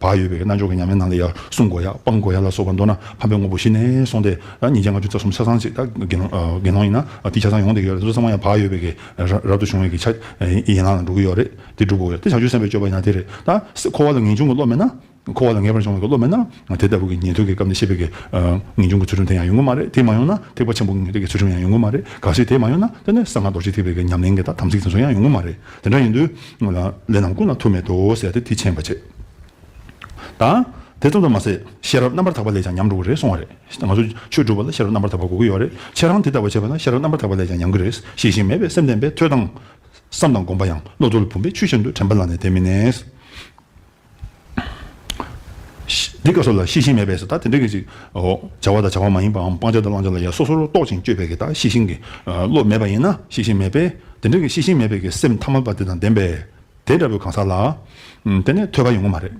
བག་ཡོད་པའི་རྣལ་འབྱོར་གྱི་ཉམས་ལེན་ནང་ལས་ཡར་སྲུང་དགོས་ཡ་སྤང་དགོས་ཡ་ལ་སོགས་པ་མདོར་ན་ཕམ་པའི་དངོས་པོ་གཞི་ནས་སོང་སྟེ། ཉིན་བརྒྱད་ལྔ་བཅུ་རྩ་གསུམ་ཆ་ཚང་གཅིག་དགེ་སློང་ཡིན་ན་དེའི་ཆ་ཚང་ཡོངས་འདེགས་ཡོད་རེད་བསམ་ན་ཡང་བག་ཡོད་པའི་གེགས་རབ་ཏུ་བྱུང་བའི་གེགས་ཆ་ཡན་ལག་ནང་འགྲོ་གི་ཡོད་རེད་དེ་སྒྲུབ་དགོས་ཡོད་དེ་བྱང་ཆུབ་སེམས་དཔའི་སྤྱོད་པ་ཡིན་ན་དེ་རེད་ད། འཁོར་བ་ལ་ངེས་འབྱུང་གི་བློ་མེད་ན། འཁོར་བ་ལ་ངེས་པར་འབྱུང་བའི་བློ་མེད་ན། དེ་ལྟ་བུ་གི་ཉན་ཐོས་ཀྱི་སྐབས་ནས་ཤེས་པའི་གེགས་ངེས་འབྱུང་གི་ཚུལ་ཁྲིམས་དེ་ཡང་ཡོང་གི་མ་རེད་དེ་མ་ཡོང་ན་ཐེག་པ་ཆེན་པོ་ཀྱི་ངེས་འབྱུང་གི་ཚུལ་ཁྲིམས་ཡང་ཡོང་གི་མ་རེད་ག་སྲིད་དེ་མ་ཡོང་ན་དེ་ནས་གསང་སྔགས་རྡོ་རྗེ་ཐེག་པའི་གེགས་ཉམས་ལེན་གྱི་དམ་ཚིག་དེ་ཚོ་ཡང་ཡོང་གི་མ་རེད། དེ་འདྲ་ཡིན་དུས། ལས་རྣམས་ཀུན་ལ་ཐུག་མེད་དོ་ཟེར་ཏེ་དེ་མཁྱེན་པར་བྱེད། ད་དེ་ཙམ་དུ་མ་ཟད་ཤེས་རབ་རྣམ་པར་དག་པ་ལས་ཀྱང་ཉམས་འགྲོ་གི་རེད་གསུང་བ་རེད། ང་ཚོ་ཆོས་སྒྲུབ་པ་ལ་ཤེས་རབ་རྣམ་པར་དག་པ་གོ་གི་ཡོད་རེད། ཁྱེད་རང་དེ་ལྟ་བུ་བྱས་པ་ན་ཤེས་རབ་རྣམ་པར་དག་པ་ལས་ཀྱང་ཉམས་ཀྱི་རེད། ཤེས་བཞིན་མེད་པའི་སེམས་ལྡན་པས་ཐོས་དང། བསམ་དང་བསྒོམ་པ་ཡང་བློ་ཚོར་བུམ་པའི་ཆུ་བཞིན་དུ་དྲན་པ་ལ་ནི་དེ་མི་གནས། འདི་སྐབས་སོགས་ལ་ཤེས་བཞིན་མེད་པས་སོ། ད་དེ་འདྲ་གི་ཅིག། བྱ་བ་དང་བྱ་བ་མ་ཡིན་པའམ་སྤང་བྱ་དང་བླང་བྱ་ལ་ཡང་སོ་སོར་རྟོག་ཅིང་དཔྱོད་པས་ཀྱི་ད་ཤེས་བཞིན་གྱི་བློ་མེད་པ་ཡིན་ན་ཤེས་བཞིན་མེད་པས་དེ་འདྲ་གི་ཤེས་བཞིན་མེད་པའི་ཀྱི་སེམས་ཐ་མལ་པ་དེ་དང་ལྡན་པས་དེ་འདྲ་བའི་གང་ཟག་ལ། དེ་ནས་ཐོས་པ་ཡོང་གི་མ་རེད།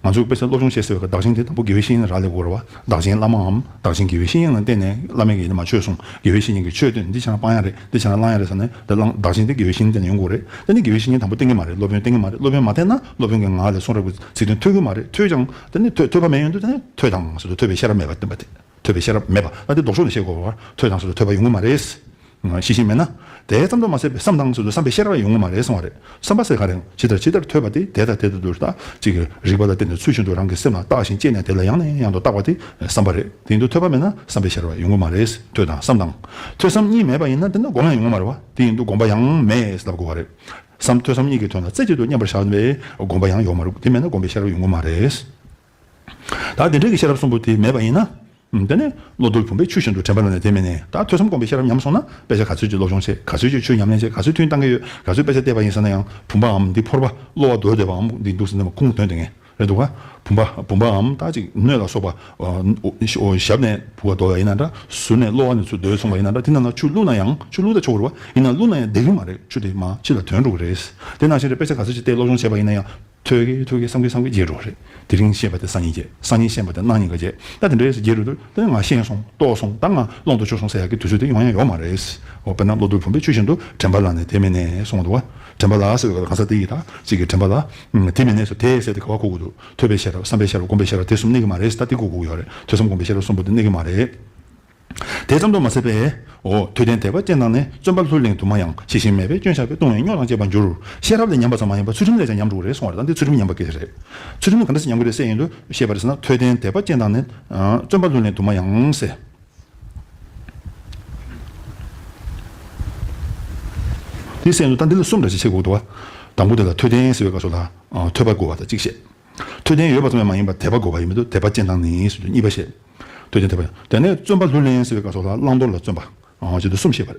ང་ཚོས་དཔེ་ཆ་སློབ་སྦྱོང་བྱེད་ཟེར་བའི་ཀྱི་བདག་གཞན་དེ་དང་པོ་དགེ་བའི་བཤེས་གཉེན་རག་ལས་དགོས་ར་བ་བདག་གཞན་བླ་མའམ་བདག་གཞན་དགེ་བའི་བཤེས་གཉེན་ལ་བརྟེན་ནས་བླ་མས་ཀྱི་ནི་མ་ཆོས་གསུངས་དགེ་བའི་བཤེས་གཉེན་གྱི་ཆོས་བཏོན་འདི་བྱས་ན་སྤང་ཡ་རེད་འདི་བྱས་ན་བླང་ཡ་རེད་ཟེར་ནས་དེ་བླང་བདག་གཞན་དེ་དགེ་བའི་བཤེས་གཉེན་བརྟེན་ནས་ཡོང་དགོས་རེད་དེ་ནི་དགེ་བའི་བཤེས་གཉེན་དང་པོ་བརྟེན་གྱི་མ་རེད་སློབ་དཔོན་བརྟེན་གྱི་མ་རེད་སློབ་དཔོན་མ་བརྟེན་ན། སློབ་དཔོན་གྱི་ངག་ལས་གསུང་རབ་ཀྱི་ཚིག་དོན་ཐོས་གི་མ་རེད་ཐོས་ཀྱང་དེ་ནི་ཐོས་པ་མེད་ཡོན་དུ་དེ་ནི་ཐོས་དང་ཟེར་དུ་ཐོས་པའི་ཤེས་རབ་མེད་པར་བསྟན་པ་དེ་ཐོས་པའི་ཤེས་རབ་མེད་པ་ད་དེ་ལྡོག་ཕྱོགས་ནས་བཤད་དགོས་པ་བར་ཐོས་དང་ཟེར་དུ་ཐོས་པ་ཡོང་གི་མ་རེད། ཤེས་བཞིན་མེད་ན། དེའི་བསམ་དོན་མ་ཟད་པའི་བསམ་དང་ཟེར་དུ་བསམ་པའི་ཤེས་རབ་ཡང་ཡོང་གི་མ་རེད་གསུང་བ་རེད་བསམ་པ་ཟེར་ག་རེང་ཇི་ལྟར་ཇི་ལྟར་ཐོས་པ་དེ་དེ་ལྟ་དེ་ལྟ་དུ་ལྟ་ཅི་གི་རིགས་པ་ལ་བརྟེན་ནས་ཚུལ་བཞིན་དུ་རང་གི་སེམས་ལ་བརྟགས་ཤིང་དཔྱད་ནས་དེ་ལ་ཡང་ནས་ཡང་དུ་བརྟགས་པ་དེ་བསམ་པ་རེད་དེ་ཡིན་དུ་ཐོས་པ་མེད་ན་བསམ་པའི་ཤེས་རབ་ཡོང་གི་མ་རེད་ཐོས་དང་བསམ་དང་ཐོས་བསམ་གཉིས་མེད་པ་ཡིན་ན་དེ་ནི་སྒོམ་ཡང་ཡོང་གི་མ་རེད་བ་དེ་ཡིན་དུ་སྒོམ་པ་ཡང་མེད་ལབ་དགོས་བ་རེད། སམ་ཐོས་བསམ་གཉིས་ཀྱི་དོན་ལ་རྩེ་གཅིག་ཏུ་མཉམ་པར་བཞག་པའི་དགོངས་པ་ཡང་ཡོད་མ་རུང་དེ་མེད་ན་དགོངས་པའི་ཤེས་རབ་ཡོང་གི་མ་རེད། ད་དེ་འདྲ་གི་ཤེས་རབ་གསུམ་པོ་དེ་མེད་པ་ཡིན་ན། དེ་ནི་བློ་དུར་བུམ་པའི་ཆུ་བཞིན་དུ་དྲན་པ་ལ་ནི་དེ་མེད་ནས་ད་ཐོས་བསམ་དགོངས་པའི་ཤེས་རབ་ཉམས་སོང་ན་དཔེ་ཆ་ག་ཚོད་ཀྱིས་སློབ་སྦྱོང་བྱེད་ག་ཚོད་ཀྱིས་ཆོས་ཉམས་ལེན་བྱེད་ག་ཚོད་ཐུན་བཏང་གི་ཡོད་ག་ཚོད་དཔེ་ཆ་བལྟས་པ་ཡིན་ཟེར་ན་ཡང་བུམ་པའམ་འདི་ཕོར་པ་གློ་བ་རྡོལ་བསྡད་པའམ་འདི་འདུག་ཟེར་ན་མ་ཁུངས་དོན་དེ་ངས་རེད་འདུག་ག། བུམ་པ་བུམ་པའམ་རྟགས་གཅིག་སྣོད་ལ་སོགས་པ། ཞབས་ནས་བུ་བ་འདོགས་ཡ་ཡིན་ན་འདྲ། ཟུར་ནས་གློ་བ་ནས་ཚུར་བརྡོལ་སོང་བ་ཡིན་ན་འདྲ་དེ་རྣམས་ལ་ཆུ་བླུགས་ན་ཡང་ཆུ་བླུགས་ད་ཆོག་གི་རེད་བ། ཡིན་ན་བླུགས་ན་ཡང་བདེ་གི་མ་རེད་ཆུ་དེ་མ་ཕྱི་ལ་དོན་འགྲོ་གི་རེད། དེ་ནང་བཞིན་རེད་དཔེ་ཆ་ག་ཚོད་ཅིག་བལྟས་སློབ་སྦྱོང་བྱས་པ་ཡིན་ན་ཡང། ཐོས་ཀྱི་ཐོས་ཀྱི་བསམ་གྱི་བསམ་གྱི་བརྗེད་འགྲོ་གི་རེད། དེ་རིང་ཤེས་པ་དེ་སང་ཉིན་བརྗེད་སང་ཉིན་ཤེས་པ་དེ་གནངས་ཉིན་ག་བརྗེད། ད་དེ་འདྲའི་བརྗེད་རུ་འདུག་ད་ང་ཤེས་སོང་རྟོགས་སོང་ད་ང་ཀློག་འདུག་ཆོག་སོང་ཟེར་ཡག་གི་དུས་ཚོད་དེ་ཡོང་ཡང་ཡོང་མ་རེད། དཔེར་ན་གློ་བུར་བུམ་པའི་ཆུ་བཞིན་དུ་དྲན་པ་ལ་ནས་དེ་མེད་ནས་སོང་བ་འདུག་ག། དྲན་པ་ལ་ཟེར་བའི་སྐབས་ལ་གང་ཟག་དེ་ཡི་དྭགས་གཅིག་གི་དྲན་པ་ལ། དེ་མི་གནས་སོ་དེས་ཟད་དེ་ག་བ་གུག་གུག་འདུག་ཐོས་པའི་ཤེས་རབ་བསམ་པའི་ཤེས་རབ་སྒོམ་པའི་ཤེས་རབ་དེ་གསུམ་གནས་ཀྱི་མ་རེད་ད་དེ་གུག་གུག་ཡོད་རེད་ཐོས་བསམ་སྒོམ་པའི་ཤེས་རབ་གསུམ་པོ་དེ་གནས་ཀྱི་མ་རེད། དེ་ཙམ་དུ་མ་ཟད་པས། འོ་དུས་ལྡན་དད་པ་ཅན་དང་ནི་བརྩོན་པ་ལྷུར་ལེན་དུ་མ་ཡང་ཤེས་བཞིན་མེད་པས་སྐྱོན་ཆགས་པས་ལྟུང་བའི་རྙོག་དང་བཅས་པར་འགྱུར། ཤེས་རབ་ལས་ཉམས་པ་ཙམ་མ་ཡིན་པར་ཚུལ་ཁྲིམས་ལས་ཀྱང་ཉམས་འགྲོ་གི་རེད་གསུང་བ་རེད་ད་འདི་ཚུལ་ཁྲིམས་ཉམས་པ་གལ་ཆེ་རེད། ཚུལ་ཁྲིམས་ནི་ག་འདྲ་ཞིག་ཉམས་དགོས་རེད་གསལ་ཡིན་དུ་ཤེས་པ་རེད་ཟེར་ན་དུས་ལྡན་དད་པ་ཅན་དང་ནི། བརྩོན་པ་ལྷུར་ལེན་དུ་མ་ཡང། དེའི་སེམས་སུ་རྟ་འདི་ལ་གསུམ་འདྲ་ཞེས་ཕྱེད་གུག་ཏུ་བ། དང་པོ་དེ་ལ་ཐོད་ལྡན་ཟེར་བའི་བཀའ་སོགས་དང། ཐོད་པ་དགོས་པ་དང་གཅིག་བཤད། ཐོད་ལྡན་ཡོད་པ་ཙམ་ཡང་མ་ཡིན་པར་དད་པ་དགོས་པ་ཡོད་མི་འདུག་དད་པ་ཅན་དང་ནི་ཟེར་དུས་གཉིས་པ་བཤད། ཐོད་ལྡན་དད་པ་ཡང། དེ་ནས་བརྩོན་པ་ལྷུར་ལེན་ཟེར་བའི་བཀའ་སོགས་ལ་བླང་དོར་ལ་བརྩོན་པ། ཅེས་དུས་གསུམ་བཤད་པར།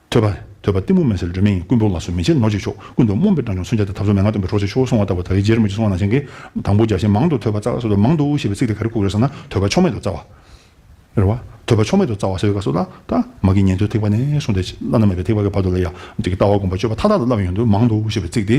ཐོས་པ། ཐོས་པ་གཏི་མུག་མེད་ཟེར་སྒྲོན་མེ་ཡིན་ཀུན་འབུམ་ལ་སོ་མི་ཆེ་ནོར་གཅིག་ཆོག་ཀུན་ཏུ་རྨོངས་པའི་སྤྲང་ཆུང་སུན་བརྒྱ་དང་ཐབས་སོ་མེད་ང་སྟོན་པའི་གྲོགས་ཚོས་ཆོས་སོང་བ་ལྟ་བུ་ད་ཡི་རྗེར་མི་རྗེ་སོང་བ་ནང་བཞིན་གྱི། དང་པོ་བརྒྱ་བྱིན་མང་དུ་ཐོས་པ་རྩ་བ་སོ་དོ་མང་དུ་ཞེས་པའི་ཚིག་དེ་ག་རེ་བཀུག་རེད་ཟེར་ན་ཐོས་པ་ཕྱོགས་མེད་དུ་རྩ་བ། རེད་བ། ཐོས་པ་ཕྱོགས་མེད་དུ་རྩ་བ་ཟེར་བའི་སྐབས་སུ་བླ། ད། མ་གི་ཉན་ཐོས་ཐེག་པ་ནས་བཟུང་སྟེ་བླ་ན་མེད་པའི་ཐེག་པ་གི་བར་དུ་ལ་ཡང་ཀྱི་ལྟ་བ་སྒོམ་པ་སྤྱོད་པ་མཐའ་དག་ལ་བསླབ་ཡོན་དུ་མང་དུ་ཞེས་པའི་ཚིག་དེ།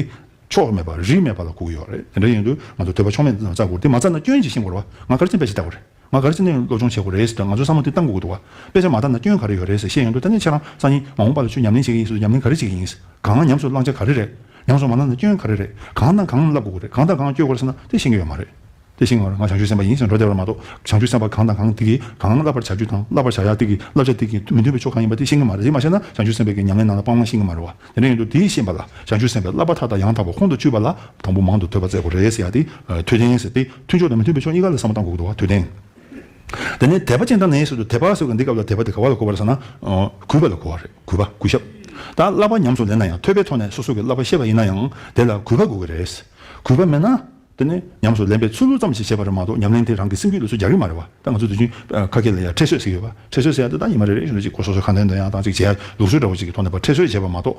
ཕྱོགས་མེད་པ་རིས་མེད་པ་ལ་བཀུག་ཡོད་རེད་དེ་འདྲ་ཡིན་དུས་ང་ཚོ་ཐོས་པ་ཕྱོགས་མེད་དུ་རྩ་དགོས་རེད་དེ་མ་རྩ་ན་སྐྱོན་གྱིས་ཤིང་བོར་བ་ང་གར་ཅན་པས་ཞེས་བལྟ་དགོས་རེད། ང་ག་རེ་བསམ་ནས་སློབ་སྦྱོང་བྱེད་དགོས་རེད་ཟེར་དུས་ང་ཚོའི་བསམ་བློ་དེ་གཏང་དགོས་ཀྱི་འདུག་དཔེ་ཆ་མ་བཏང་ན་སྐྱོན་ག་རེ་ཡོད་རེད་ཟེར་བཤད་ཡོང་དུས་ད་ནས་ཁྱེད་རང་ས་ཡིན་མ་འོངས་པ་ལ་ཆུ་ཉམས་ལེན་བྱེད་ཀྱི་ཡིན་ཟེར་དུས་ཉམས་ལེན་ག་རེ་བྱེད་ཀྱི་ཡིན། གང་ལ་ཉམས་སུ་བླང་བྱ་ག་རེ་རེད། ཉམས་སུ་མ་བླངས་ན་སྐྱོན་ག་རེ་རེད། གང་དང་གང་བསླབ་དགོས་ཀྱི་རེད་གང་དང་གང་བསྐྱོད་དགོས་རེད་ཟེར་ན་དེ་ཤེས་ཀྱི་ཡོད་མ་རེད། དེ་ཤེས་ངེས་པར་ང་བྱང་ཆུབ་སེམས་དཔའ་ཡིན་ཟེར་འགྲོ་བསྡད་པར་མ་གཏོགས་བྱང་ཆུབ་སེམས་དཔའ་གང་དང་གང་དེ་གིས་གང་བསླབ་པར་བྱ་རྒྱུ་དང་བསླབ་པར་བྱ་ཡག་དེ་གིས་བསླབ་བྱ་དེ་གིས་མི་མཐུན་པའི་ཕྱོགས་གང་ཡིན་པ་དེ་ཤེས་ཀྱི་མ་རེད་དེ་མ་ཤེས་ན་བྱང་ཆུབ་སེམས་དཔའི་གི་ཉམས་ལེན་ནང་ལ་སྤང་བླང་ཤེས་ཀྱི་མ་རེད་བ། དེ་ནས་ཡོན་དུ་དེའི་ཤེས་པ་ལ་བྱང་ཆུབ་སེམས་དཔའི་བསླབ་པ་མཐའ་དག་ཡང་དག་པར་ཁོང་དུ་ཆུད་པ་ལ་དང་པོ་མང་དུ་ཐོས་པ་བཙལ་གོ་རེ་ཟེར་ཡང་དེ་ཐོས་ཅན་ཟེར་ཏེ་མཐུན་ཕྱོགས་དང་མི་མཐུན་པའི་ཕྱོགས་གཉིས་ཀ་ལ་ས་མ་ཏང་གོ་དགོས་པ་ཐོས་དོན། དེ་ནས་དད་པ་ཅན་དང་ནས་སོ་སོ་དད་པ་སོགས་ཀྱིས་འདི་སྐབས་ལ་དད་པ་དེ་ག་བ་ལ་གོ་བ་རེད་ཟེར་ན། གུས་པ་ལ་གོ་བ་རེད་གུས་པ་གུས་ཞབས། ད་བསླབ་པ་ཉམས་སུ་ལེན་ན་ཡང་ཐོས་པའི་ཐོག་ནས་སོ་སོ་ཀྱི་བསླབ་པ་ཤེས་པ་ཡིན་ན་ཡང་དེ་ལ་གུས་པ་དགོས་ཀྱི་རེད། གུས་པ་མེད་ན། དེ་ནི་ཉམས་སུ་ལེན་པའི་ཚུལ་ལུགས་ཙམ་ཞིག་བྱས་པ་རེད་མ་གཏོགས་ཉམས་ལེན་དེ་རང་གི་སེམས་རྒྱུད་ལ་སུས་རྒྱག་གི་མ་རེད་བ་ད་ང་ཚོ་དུས་རྒྱུན་ཁ་སྐད་ལ་ཡང་ཁྲེལ་སོད་ཟེར་གི་ཡོད་བ་ཁྲེལ་སོད་ཟེར་ཡག་འདི་ད་ཉི་མ་རེ་རེ་བཞིན་དུ་གཅིག་གོ་སོ་སོའི་ཁ་འདོན་འདོན་ཡག་དང་གཅིག་བྱས་ཡག་ལུགས་སྲོལ་འདྲ་བོ་གཅིག་གི་ཐོག་ནས་བ་ཁྲེལ་སོད་བྱས་པ་མ་གཏོགས